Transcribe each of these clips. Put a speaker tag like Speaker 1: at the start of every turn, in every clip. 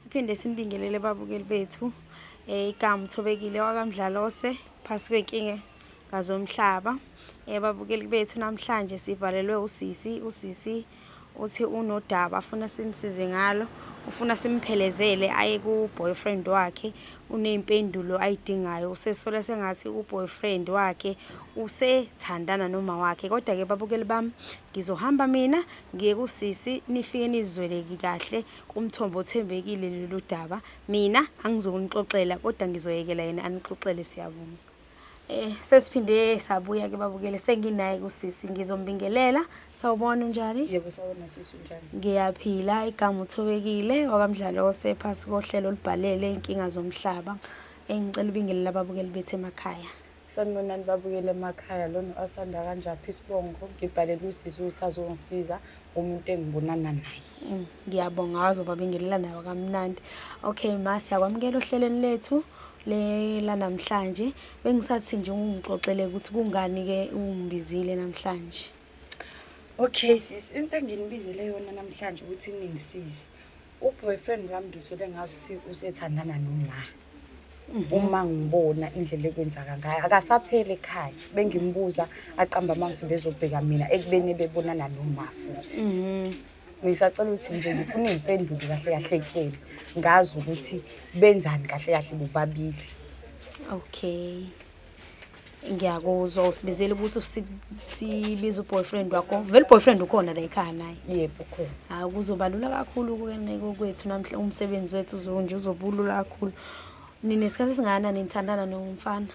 Speaker 1: Siphinde simbingelele babukeli bethu eh, igama uthobekile wakamdlalose phasi kwenkinga ngazomhlaba eh, babukeli bethu namhlanje sivalelwe usisi usisi uthi unodaba afuna simsize ngalo ufuna simphelezele aye ku-boyfriend wakhe uney'mpendulo ayidingayo usesola sengathi u-boyfriend wakhe usethandana noma wakhe kodwa-ke babukeli bami ngizohamba mina ngiye kusisi nifike nizizweleki kahle Kumthombo othembekile lolu daba. Mina angizonixoxela kodwa ngizoyekela yena anixoxele siyabonga. Eh sesiphinde sabuya ke babukele senginaye kusisi ngizombingelela sawubona unjani yebo sawubona sisi
Speaker 2: unjani ngiyaphila igama
Speaker 1: uthobekile wakamdlalo osephasi kohlelo olubhalele inkinga zomhlaba engicela ubingelela ababukeli bethu emakhaya Sanibonani
Speaker 2: babukele emakhaya lona osanda kanjaphi isibongo ngibhalele usisi ukuthi azongisiza umuntu engibonana naye mm, ngiyabonga wazoba
Speaker 1: bingelela nayo kamnandi okay ma siyakwamukela ohlelweni lethu lela namhlanje bengisathi nje ungixoxele ukuthi kungani ke ungibizile namhlanje
Speaker 2: okay sis into enginibizele yona namhlanje ukuthi ningisize uboyfriend wami ngisuke ngazi ukuthi usethandana noma mhm. uma ngibona indlela ekwenzaka ngayo akasapheli ekhaya bengimbuza aqamba uma ukuthi bezobheka mina ekubeni bebonana noma futhi mhm. ngisacela ukuthi nje ngifuna iy'mpendulo kahle kahle kuyena ngazi ukuthi benzani kahle kahle bobabili okay
Speaker 1: ngiyakuzwa usibizele ukuthi sibiza uboyfriend wakho vele uboyfriend ukhona la ekhaya naye yebo ukhona hayi
Speaker 2: kuzobalula kakhulu
Speaker 1: kukeneko kwethu namhla umsebenzi wethu uzonje uzobulula kakhulu nina isikhathi esingana nithandana nomfana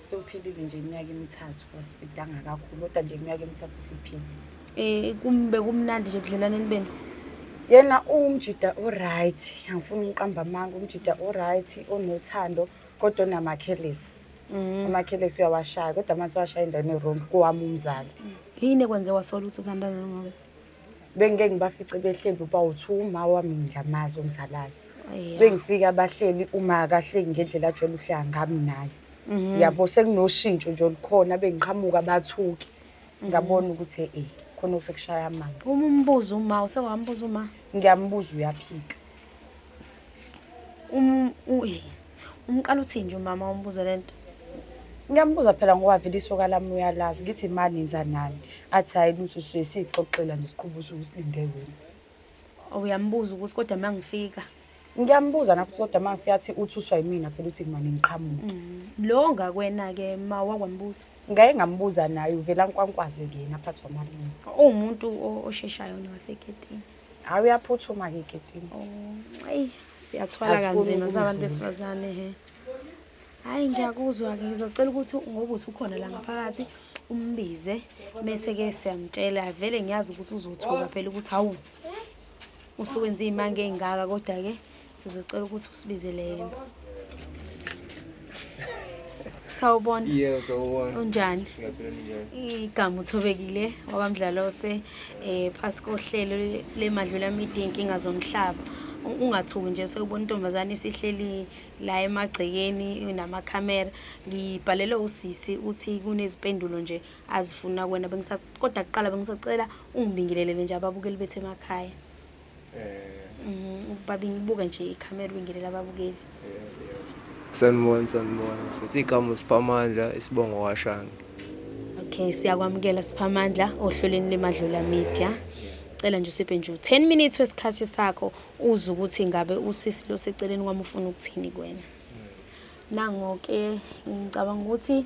Speaker 1: siwuphilile
Speaker 2: nje iminyaka emithathu kasidanga kakhulu kodwa nje iminyaka emithathu siphile eh kumbe
Speaker 1: kumnandi nje budlelaneni benu yena
Speaker 2: uwumjida o-right angifuni ngiqamba amanga umjida o-right onothando kodwa unamakhelisi mm. amakhelisi uyawashaya kodwa uma sewashaya endaweni erongi kowami umzali mm. yini ekwenze
Speaker 1: wasola ukuthi uthandana nongobe bengike
Speaker 2: ngibafice behleli uba uthi uma wami ngiyamazi umzalane bengifike abahleli uma kahleki ngendlela ajwayele ukuhleka ngami naye mhm. uyabo sekunoshintsho nje olukhona bengiqhamuka bathuke mhm. ngabona ukuthi e khona okusekushaya amanzi uma umbuza uma
Speaker 1: usewambuza uma ngiyambuza uyaphika
Speaker 2: um
Speaker 1: umqala uthini nje umama umbuze le nto ngiyambuza
Speaker 2: phela ngoba vele isoka lami uyalazi ngithi ma nenza nani athi hhayi lutho suye siyixoxela nje siqhuba usuku silinde wena uyambuza
Speaker 1: ukuthi kodwa uma ngifika ngiyambuza
Speaker 2: napho ukuthi kodwa uma ngifika athi uthuswa yimina phela uthi ngimane ngiqhamuke mm. lo
Speaker 1: ngakwena-ke ma wakwambuza ngaye ngambuza
Speaker 2: naye uvela nkwankwaze-ke yena aphathwa amalini uwumuntu
Speaker 1: osheshayo newasegedini Hayi uyaphuthuma
Speaker 2: ke ketini. Oh, ayi
Speaker 1: siyathwala kanzima sabantu besifazane he. Hayi ngiyakuzwa ke ngizocela ukuthi ngoba uthi ukhona la ngaphakathi umbize mese ke siyamtshela vele ngiyazi ukuthi uzothuka phela ukuthi hawu usuwenza izimanga ezingaka kodwa ke Sizocela ukuthi usibizele yena. Sawubona. Yebo sawubona.
Speaker 3: Unjani? Ngiyaphila njani? Igama uthobekile
Speaker 1: wabamdlalose eh phasi kohlelo lemadlula media inkinga zomhlaba. Ungathuki nje sewubona intombazane isihleli la emagcekeni namakhamera. Ngibhalele usisi uthi kunezipendulo nje azifuna kwena bengisakodwa kuqala bengisacela ungibingelele nje ababukeli bethu emakhaya. Eh. Mhm, ukuba bengibuka nje ikhamera ubingelela ababukeli.
Speaker 3: Sanibona, sanibona. Futhi igama uSiphamandla isibongo washange. Okay,
Speaker 1: siyakwamukela Siphamandla ohlelweni leMadlula Media. Cela nje usiphe nje 10 minutes wesikhathi sakho uze ukuthi ngabe usisi lo seceleni kwami ufuna ukuthini kuwena. Nangoke ngicabanga ukuthi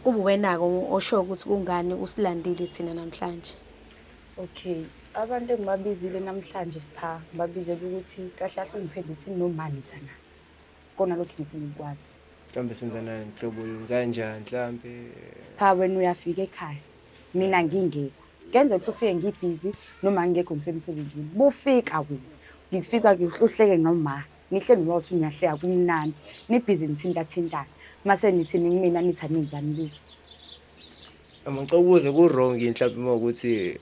Speaker 1: kubuwena-ke osho ukuthi kungani usilandile thina namhlanje. Okay.
Speaker 2: Abantu engibabizile namhlanje sipha ngibabizela ukuthi kahle kahle ungiphendule ukuthi no mani thana. Kona lokho ngifuna ukwazi. Mhlambe senza nani
Speaker 3: nhlobo yini kanjani mhlambe Sipha wena
Speaker 2: uyafika ekhaya. Mina ngingekho. Kenze ukuthi ufike ngibhizi noma ngingekho ngisemsebenzini. Bufika wena. Ngikufika ngihluhleke noma Ngihle ngiba uthi niyahleka kumnandi nibhizi nithintathintana mase nithi ningimina nithi anenzani lutho amacokuze
Speaker 3: ku-wrong yini mhlawumbe uma ukuthi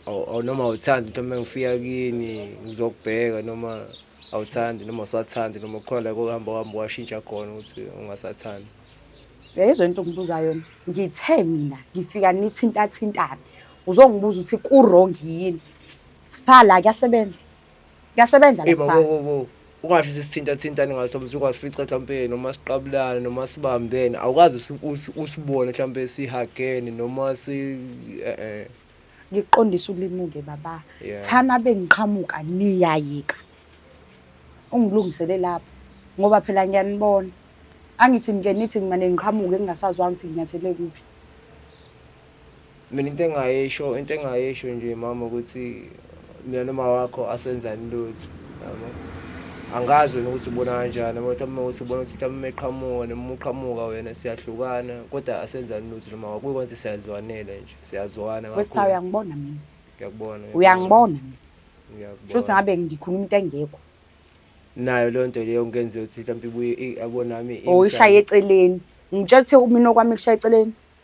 Speaker 3: um noma awuthandi into uma ngifika kini ngizokubheka noma awuthandi noma usathandi noma khona la kokuhamba uhamba washintsha khona ukuthi ungasathandi yayizwa
Speaker 2: into ongibuza yona ngithe mina ngifika nithintathintane uzongibuza ukuthi ku-wrong yini siphala kuyasebenza Kuyasebenza Hey, baba, lesibani. wo, wo. ungasho
Speaker 3: ukuthi sithintathintane ngaso mhlawumbe singasifica mhlawumbe noma siqabulane noma sibambene awukazi usi- usi- usibone mhlawumbe sihagene noma si eh, eh.
Speaker 2: Ngikuqondisa ulimuke baba. Yeah. Thana
Speaker 3: bengiqhamuka
Speaker 2: niyayika. Ungilungisele lapho ngoba phela ngiyanibona. Angithi nike nithi ngimane ngiqhamuke ngingasazwanga ukuthi nginyathele kuphi.
Speaker 3: Mina into engayisho into engayisho nje mama ukuthi mina noma wakho asenzani lutho yabo angazi wena ukuthi ubona kanjani abantu uma ukuthi ubona ukuthi mhlawumbe eqhamuka noma uqhamuka wena siyahlukana kodwa asenzani lutho noma wakho kuyikwenza siyazwanela nje siyazwana kakhulu uyangibona
Speaker 2: mina ngiyakubona
Speaker 3: uyangibona
Speaker 2: mina ngiyakubona futhi
Speaker 3: ngabe ngikhuluma
Speaker 2: into engekho nayo
Speaker 3: leyo nto leyo ngenze ukuthi mhlawumbe ibuye abonami oyishaye eceleni
Speaker 2: ngitshethe mina okwami kushaye eceleni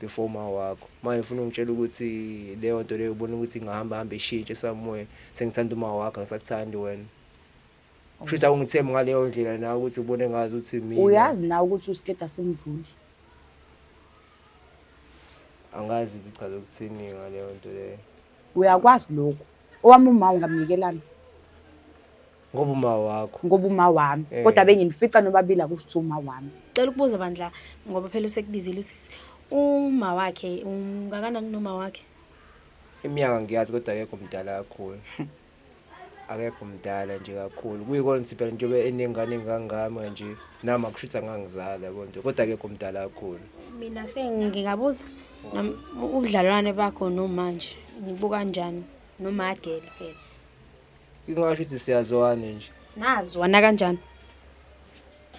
Speaker 3: before uma wakho manje ufuna ungitshela ukuthi leyo nto leyo ubona ukuthi ingahamba hamba ishintshe somewhere sengithanda uma wakho angisakuthandi wena kusho ukuthi awungithembi ngaleyo ndlela nawe ukuthi ubone ngazi ukuthi mina uyazi nawe ukuthi usiketa
Speaker 2: simdluli
Speaker 3: angazi ukuthi uchaza ukuthini ngaleyo nto leyo uyakwazi
Speaker 2: lokhu owami uma ungamnikelani
Speaker 3: Ngoba uma wakho. Ngoba uma wami.
Speaker 2: Eh. Kodwa benginifica nobabili akusho ukuthi uma wami. Cela ukubuza bandla
Speaker 1: ngoba phela usekubizile usisi. Uma wakhe ungakanani noma wakhe? Iminyaka
Speaker 3: ngiyazi kodwa akekho mdala kakhulu. Akekho mdala nje kakhulu. Kuyikona ukuthi phela njengoba enengane engangami kanje nami akushutha ngangizala konje kodwa akekho mdala kakhulu. Mina
Speaker 1: sengingabuza ubudlalwane bakho nomanje. Nibuka kanjani? Nomagele phela. Ingasho
Speaker 3: ukuthi siyazwana nje. Nazwana kanjani?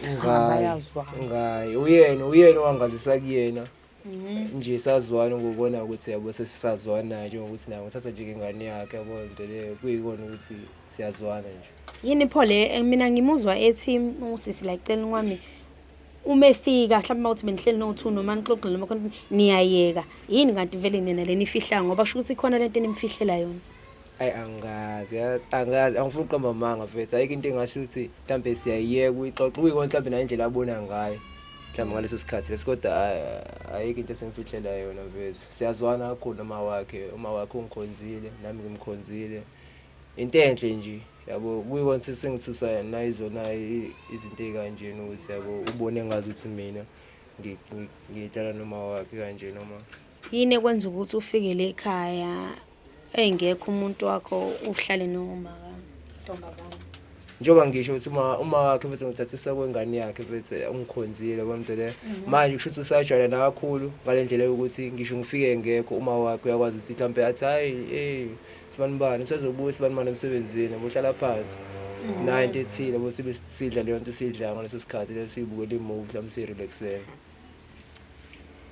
Speaker 1: Ngayi.
Speaker 3: Ngayi. Uyena uyena owangazisa kuyena. Mhm. Nje sazwana ngokubona ukuthi yabo sesisazwana nje ukuthi naye ngithatha nje ingane yakhe yabo into leyo kuyikona ukuthi siyazwana nje. Yini pho le eh,
Speaker 1: mina ngimuzwa ethi usisi la cela kwami uma efika mhlawumbe uma uthi benihleli no-two noma nixoxile noma khona niyayeka yini kanti vele nina le nifihla ngoba sho ukuthi ikhona le nto enimfihlela yona ayi angazi
Speaker 3: angazi angifuni uqamba amanga mfethu ayikho into engasho ukuthi mhlawumbe siyayiyeka uyixoxa uyikona mhlawumbe nayo indlela abona ngayo mhlawumbe ngaleso sikhathi leso kodwa ayikho into esimfihlela yona mfethu siyazwana kakhulu uma wakhe uma wakhe ungikhonzile nami ngimkhonzile into enhle nje yabo kuyikona sesengithuswa yena nayizona izinto ey'kanjena ukuthi yabo ubone ngazi ukuthi mina ngidlala noma wakhe kanje noma yini ekwenza
Speaker 1: ukuthi ufikele ekhaya Eyi ngekho umuntu wakho uhlale nomaka ntombazane. Njengoba
Speaker 3: ngisho ukuthi uma uma wakhe futhi ngithathisa kwengane yakhe futhi ungikhonzile bonto le. Mhm. Manje kusho ukuthi usajwayela nakakhulu ngalendlela yokuthi ngisho ngifike ngekho uma wakhe uyakwazi ukuthi mhlambe athi hayi eh sibanibani usezobuya sibanibani emsebenzini bohlala phansi. Mhm. Nayo into ethile bose sidla leyo nto sidla ngaleso sikhathi leso sibukela imovie mhlawumbe si-relaxela.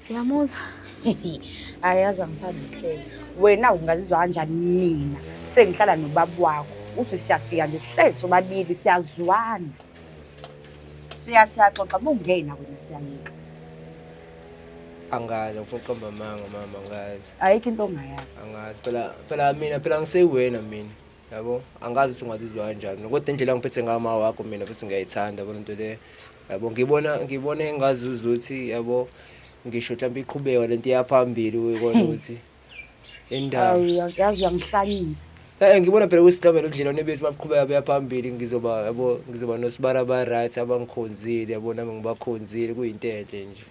Speaker 1: Uyamuzwa?
Speaker 2: Ayazi angithandi ukuhleka. Wena ungazizwa kanjani mina sengihlala nobaba wakho. Uthi siyafika nje sihleli sobabili siyazwana. Siya siyaxoxa bungena wena siyayeka.
Speaker 3: Angazi ngifuna uqamba amanga mama angazi. Ayikho into ongayazi.
Speaker 2: Angazi phela phela
Speaker 3: mina phela ngisewena mina. yabo angazi ukuthi ungazizwa kanjani kodwa indlela ngiphethe ngayo ma wakho mina futhi ngiyayithanda yabo lento le yabo ngibona ngibona engazuza ukuthi yabo ngisho mhlawumbe iqhubeka lento iyaphambili uyibona ukuthi indawo yazi
Speaker 2: uyangihlanyisa Eh ngibona phela ukuthi
Speaker 3: mhlawumbe nodlelwane bethu baqhubeka beya phambili ngizoba yabo ngizoba nosibara ba right abangikhonzile yabo nami ngibakhonzile kuyinto enhle nje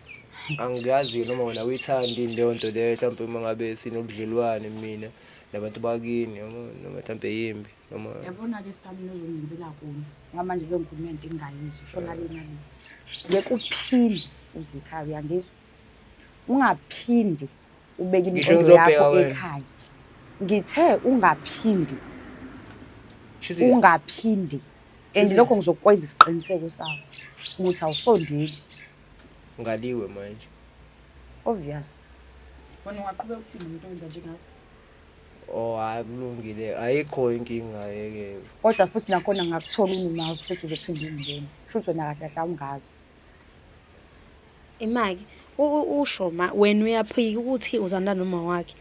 Speaker 3: angiyazi noma wena uyithandi leyo nto leyo mhlawumbe uma ngabe sinobudlelwane mina nabantu bakini yabo noma mhlawumbe yimbi noma yabona-ke siphamile
Speaker 2: uzongenzela kona ngoba manje leyo nkulumo yento engingayizwa usho nale nale ngeke uphinde uze ekhaya uyangizwa ungaphindi ubeke Ngisho inqondo ngizobheka yakho wena. ekhaya ngithe ungaphindi Shuthi ungaphindi and Shuthi- lokho ngizokwenza isiqiniseko sakho ukuthi awusondeli
Speaker 3: ngaliwe manje obvious
Speaker 2: wena ungaqhubeka ukuthini umuntu owenza njengakho
Speaker 3: Oh hayi kulungile ayikho inkinga yeke. Kodwa futhi nakhona
Speaker 2: ngakuthola unumazi futhi uzophinde ungene. Shuthi wena kahle kahle awungazi. Imaki
Speaker 1: usho ma wena uyaphika ukuthi uzanda noma wakhe.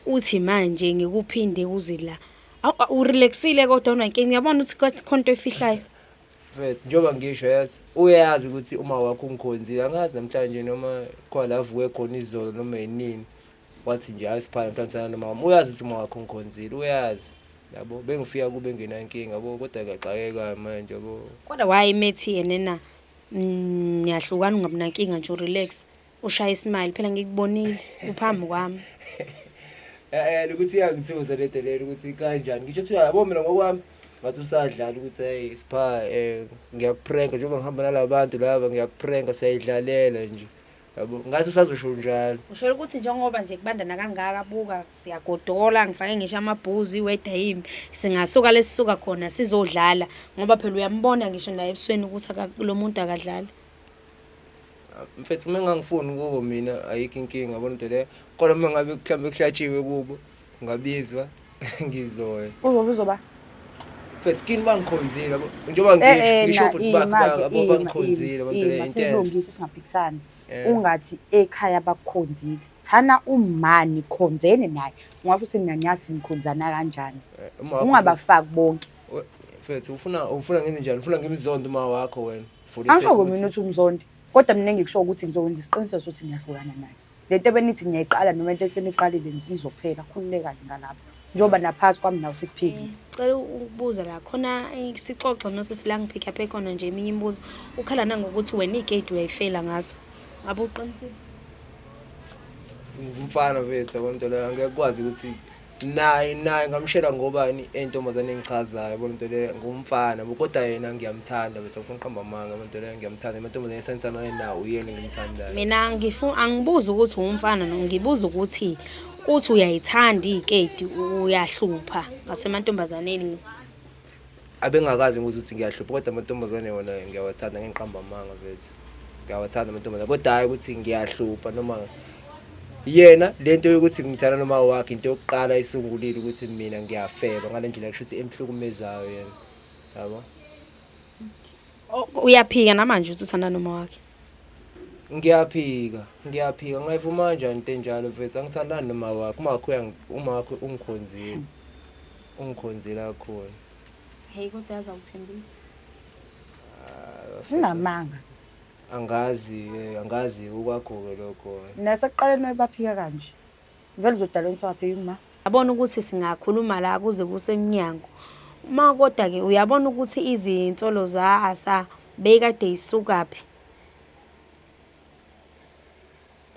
Speaker 1: Uthi manje ngikuphinde kuze la. Awurelaxile kodwa unankinga uyabona ukuthi khonto efihlayo. Mfethu njengoba
Speaker 3: ngisho yazi uyazi ukuthi uma wakho ungikhonzile angazi namhlanje noma khona avuke khona izolo noma yinini wathi nje hayi siphana mntwana nomama uyazi ukuthi uma wakho ungikhonzile uyazi yabo bengifika kube engenankinga yabo kodwa ngiyaxakeka manje yabo kodwa wayemethi
Speaker 1: yena na mm, niyahlukana ungabinankinga nje relax Ushaya ismile phela ngikubonile uphambi kwami. Eh
Speaker 3: eh ukuthi iyangithusa le delela ukuthi kanjani. Ngisho ukuthi uyabo mina ngokwami ngathi usadlala ukuthi hey sipha eh ngiyakupranka njengoba ngihamba nalabantu laba ngiyakupranka siyayidlalela nje. Yabo ngathi usazosho njalo. Ushela ukuthi njengoba
Speaker 1: nje kubandana kangaka buka siyagodola ngifake ngisho amabhuzu iweather yimbi singasuka lesisuka khona sizodlala ngoba phela uyambona ngisho naye ebusweni ukuthi lo muntu akadlali.
Speaker 3: mfethu uma engangifuni kubo mina ayikho inkinga yabona into leyo kodwa uma ngabe mhlawumbe kuhlatshiwe kubo ngabizwa ngizoya uzobe uzoba
Speaker 2: mfethu
Speaker 3: kini bangikhonzile yabo njengoba ngisho eh, eh, ngisho ukuthi bakhe babo bangikhonzile yabona into leyo silungise singaphikisani
Speaker 2: eh. ungathi ekhaya bakukhonzile thana umani khonzene naye ungasho ukuthi mina nyazi nikhonzana kanjani ungabafaki bonke mfethu ufuna
Speaker 3: ufuna ngenze njani ufuna ngimzonde uma wakho wena Angisho ngoba mina uthi
Speaker 2: umzondi kodwa mina engikusho ukuthi ngizokwenza isiqiniseko sokuthi ngiyahlukana naye le nto ebenithi ngiyayiqala noma into eseniqalile izophela khululekani ngalapho njengoba naphakathi kwami nawo sekuphilile mm, cela ukubuza
Speaker 1: la khona sixoxe nosisi la ngiphikha phe khona nje eminye imibuzo ukhala nangokuthi wena igate uyayifela ngazo ngabe uqinisile
Speaker 3: umfana bethu abantwana angeke kwazi ukuthi naye naye ngamshela ngobani entombazane engichazayo yabo lento le ngumfana bo kodwa yena ngiyamthanda bese ngifuna uqamba amanga lento le ngiyamthanda amantombazane esenzana naye nawo uyena ngimthandayo mina ngifuna
Speaker 1: angibuza ukuthi ungumfana no ngibuza ukuthi uthi uyayithanda ikedi uyahlupha ngasemantombazaneni
Speaker 3: abengakazi ngibuza ukuthi ngiyahlupha kodwa amantombazane wona ngiyawathanda ngengiqamba amanga vethu ngiyawathanda amantombazane kodwa hhayi ukuthi ngiyahlupha noma yena le nto yokuthi ngithanda noma wakhe into yokuqala isungulile ukuthi mina ngiyafeba ngale ndlela kusho ukuthi emhlukumezayo yena yabo
Speaker 1: uyaphika namanje ukuthi uthanda noma wakhe
Speaker 3: ngiyaphika ngiyaphika ngayivuma kanjani into enjalo vethu angithandani noma wakhe uma wakhe uma wakhe ungikhonzile Ungikhonzile kakhulu. Hey kodwa
Speaker 1: yazi awuthembisa.
Speaker 2: Unamanga. Angazi eh,
Speaker 3: angazi ukwakho-ke lokho. Nasekuqaleni wayebaphika
Speaker 2: kanje. Vele uzodala inswaphe yuma. Yabona ukuthi
Speaker 1: singakhuluma la kuze kusemnyango. Uma kodwa-ke uyabona ukuthi izinsolo za-Asa beyikade yisukaphi.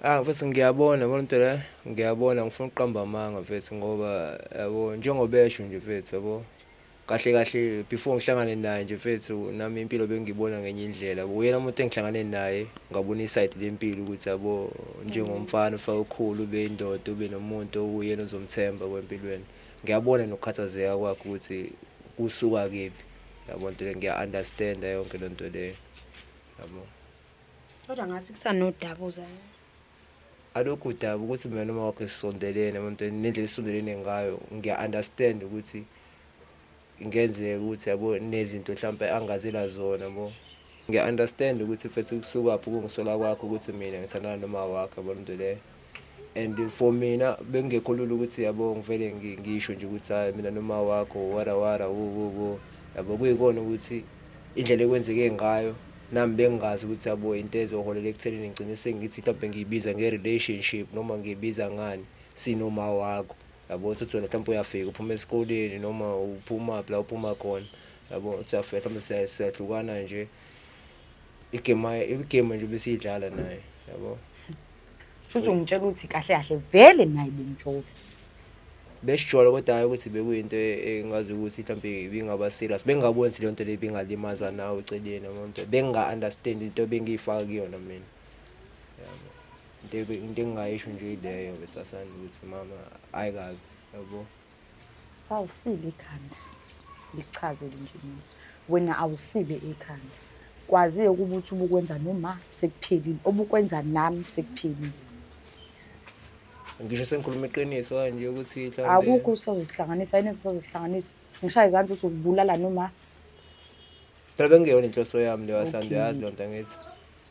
Speaker 3: Ah mfethu ngiyabona yabona into le ngiyabona ngifuna ukuqamba amanga mfethu ngoba yabo njengoba esho nje mfethu yabo kahle kahle before ngihlangane naye nje mfethu nami impilo bengiyibona ngenye indlela uyena umuntu engihlangane naye ngabona isayidi lempilo ukuthi yabo njengomfana ufake ukhulu ube indoda ube nomuntu owuyena ozomthemba kwempilweni ngiyabona nokukhathazeka kwakhe ukuthi kusuka kephi yabo nto le ngiya-understanda yonke loo nto leyo yabo
Speaker 1: Kodwa ngathi kusanodaba uzana.
Speaker 3: Alokhu udaba ukuthi mina noma wakho sisondelene emntweni nendlela esondelene ngayo ngiya understand ukuthi ngenzeka ukuthi yabo nezinto mhlawumbe angazela zona bo ngiya understand ukuthi mfethu kusukaphi ukungisola kwakho ukuthi mina ngithandana noma wakho yabo into leyo and for mina bekungekho lula ukuthi yabo ngivele ngisho nje ukuthi hayi mina noma wakho wara wara wo wo wo yabo kuyikona ukuthi indlela ekwenzeke ngayo nami bengingazi ukuthi yabo into ezoholela ekuthenini ngigcine sengithi mhlawumbe ngiyibiza nge-relationship noma ngiyibiza ngani sinoma wakho yabo uthi wena mhlawumbe uyafika uphuma esikoleni noma uphuma phi la uphuma khona yabo uthi uyafika mhlawumbe siyahlukana nje igame igame nje besiyidlala naye yabo Shuthi
Speaker 2: ungitshela ukuthi kahle kahle vele naye benjolo.
Speaker 3: Besijolo kodwa hayi ukuthi bekuyinto e- engazi ukuthi mhlawumbe ibingaba serious. Bengingaboni ukuthi leyo nto leyo ibingalimaza nawe eceleni yabo nto. Benginga-understand into ebengiyifaka kuyona mina. Yabo. Into ebe- into engingayisho nje ileyo besasana ukuthi mama hhayi kabi yabo. Sipha
Speaker 2: usile ikhanda ngikuchazele nje mina wena awusile ikhanda kwaziye ukuba uthi ubukwenza noma sekuphelile obukwenza nami sekuphelile
Speaker 3: ngisho sengikhuluma iqiniso kanje ukuthi mhlawumbe- akukho usazosihlanganisa
Speaker 2: yini esisazosihlanganisa ngishaya izandla ukuthi ukubulala noma
Speaker 3: phela bekungeyona
Speaker 2: inhloso
Speaker 3: yami leyo asanda Okay. uyazi loo nto
Speaker 2: angithi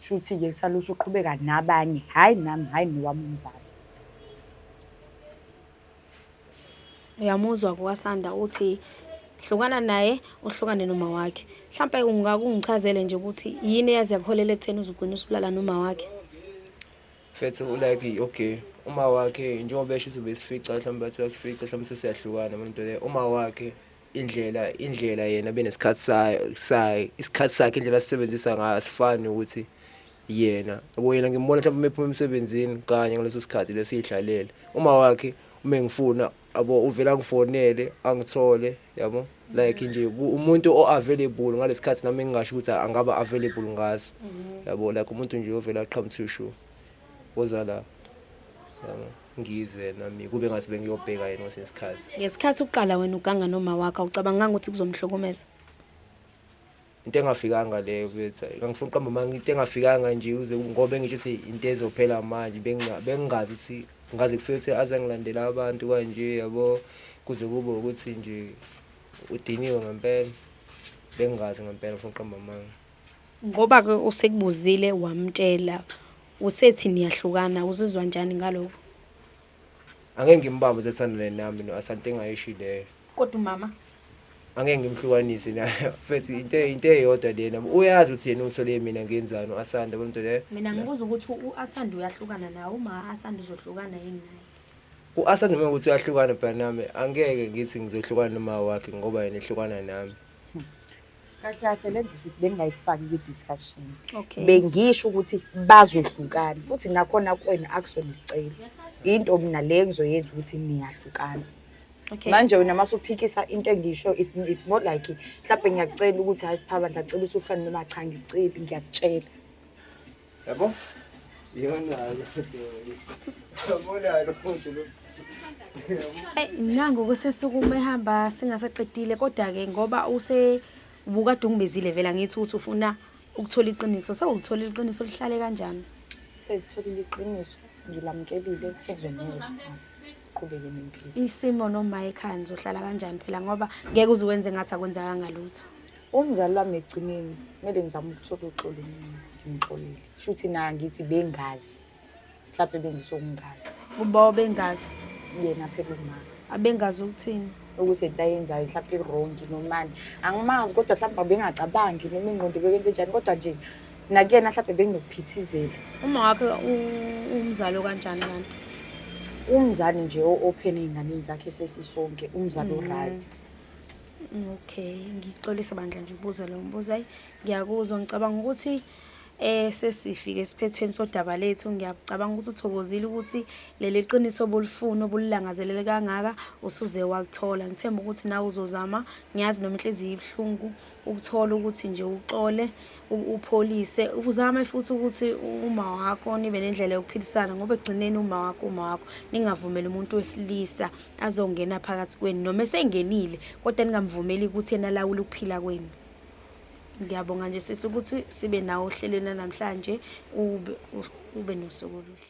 Speaker 3: shuthi-ke
Speaker 2: saluthi uqhubeka nabanye hhayi nami hhayi nowami umzali
Speaker 1: Uyamuzwa ke uKaSanda uthi hlukana naye uhlukane noma wakhe. Mhlampe ungake ungichazele nje ukuthi yini eyazi yakuholela ekutheni uzugcina usubulala noma wakhe.
Speaker 3: Mfethu ulike okay uma wakhe njengoba esho ukuthi ubesifica mhlawumbe bathi uyasifica mhlawumbe sesiyahlukana into le uma wakhe indlela indlela yena benesikhathi sayo isikhathi sakhe indlela asisebenzisa ngayo asifani ukuthi yena yabo yena ngimbona mhlawumbe uma ephuma emsebenzini kanye ngaleso sikhathi lesiyidlalele uma wakhe uma ngifuna abo uvela ngifonele angithole yabo like nje umuntu o-available ngalesikhathi nami engingasho ukuthi angaba available ngaso mhm. yabo like umuntu nje ovela aqhamuthi ushu oza la yabo ngizwe nami kube ngathi bengiyobheka yena kwesinye isikhathi ngesikhathi uqala wena
Speaker 1: uganga noma wakho awucabanganga ukuthi kuzomhlukumeza
Speaker 3: into engafikanga leyo bethi ngangifuna uqamba manje into engafikanga nje uze ngoba ngisho ukuthi into ezophela manje bengingazi ukuthi ngaze kufike ukuthi aze ngilandela abantu kanje yabo kuze kube ukuthi nje udiniwe ngempela bengingazi ngempela ngifuna uqamba manje Ngoba ke
Speaker 1: usekubuzile wamtshela usethi niyahlukana uzizwa njani ngaloko?
Speaker 3: Angeke ngimbambe usathandane nami no Asante engayishileyo. Kodwa umama
Speaker 1: angeke
Speaker 3: ngimhlukanise na first into into eyodwa lena uyazi ukuthi yena ungithole mina ngenzani uAsanda bonto le mina ngibuza ukuthi
Speaker 1: uAsanda uyahlukana nawe uma Asanda uzohlukana yini naye uAsanda uma
Speaker 3: ukuthi uyahlukana bra nami angeke ngithi ngizohlukana noma wakhe ngoba yena ehlukana nami
Speaker 2: kahle kahle le ndaba sisi bengingayifaki kwi-discussion okay bengisho
Speaker 1: ukuthi
Speaker 2: bazohlukana futhi nakhona kwena akusona isicelo into mina le engizoyenza ukuthi niyahlukana okay manje
Speaker 1: wena mase uphikisa
Speaker 2: into engisho it's, it's more like mhlawumbe ngiyakucela ukuthi hayi siphaba ngiyacela ukuthi uhlukane noma cha ngiceli ngiyakutshela
Speaker 3: Yabo? Yona Yabona lo muntu lo. Hey, nangu
Speaker 1: kusesukume ehamba singasaqedile kodwa ke ngoba use ubukade ungibizile vela ngithi uthi ufuna ukuthola iqiniso. Sewulithola iqiniso lihlale kanjani? Sengitholile
Speaker 2: iqiniso, ngilamukelile sekuzomuzwa. Qhubeke nempilo. Isimo noma
Speaker 1: ekhaya nizohlala kanjani phela ngoba ngeke uze wenze ngathi akwenzakanga lutho. Umzali wami
Speaker 2: ekugcineni kumele ngizame ukuthola uxolo mina ngimxolele. Shuthi na ngithi bengazi. Mhlawumbe benzisa ukungazi. Uba obengazi
Speaker 1: yena phela
Speaker 2: umama. Abengazi ukuthini?
Speaker 1: Ukuthi into ayenzayo
Speaker 2: mhlawumbe i-wrong nomani. Angimazi kodwa mhlawumbe abengacabangi noma ingqondo bekwenze njani kodwa nje nakuyena mhlawumbe benginokuphithizela. Uma wakhe
Speaker 1: umzali okanjani kanti? Umzali
Speaker 2: nje o-open ey'nganeni zakhe sesisonke, umzali mm. o-right.
Speaker 1: Okay, ngixolisa bandla nje ukubuza lo mbuzo. Hayi, ngiyakuzwa ngicabanga ukuthi eh sesifike esiphethweni sodaba lethu ngiyacabanga ukuthi uthokozile ukuthi leli qiniso obulifuna obulilangazelele kangaka usuze walithola ngithemba ukuthi nawe uzozama ngiyazi noma inhliziyo ibuhlungu ukuthola ukuthi nje uxole upholise uzame futhi ukuthi uma wakho nibe nendlela yokuphilisana ngoba ekugcineni uma wakho uma wakho ningavumeli umuntu wesilisa azongena phakathi kwenu noma esengenile kodwa ningamvumeli ukuthi yena lawule ukuphila kwenu ngiyabonga nje sisi ukuthi sibe nawo ohlelweni namhlanje ube ube nosuku oluhle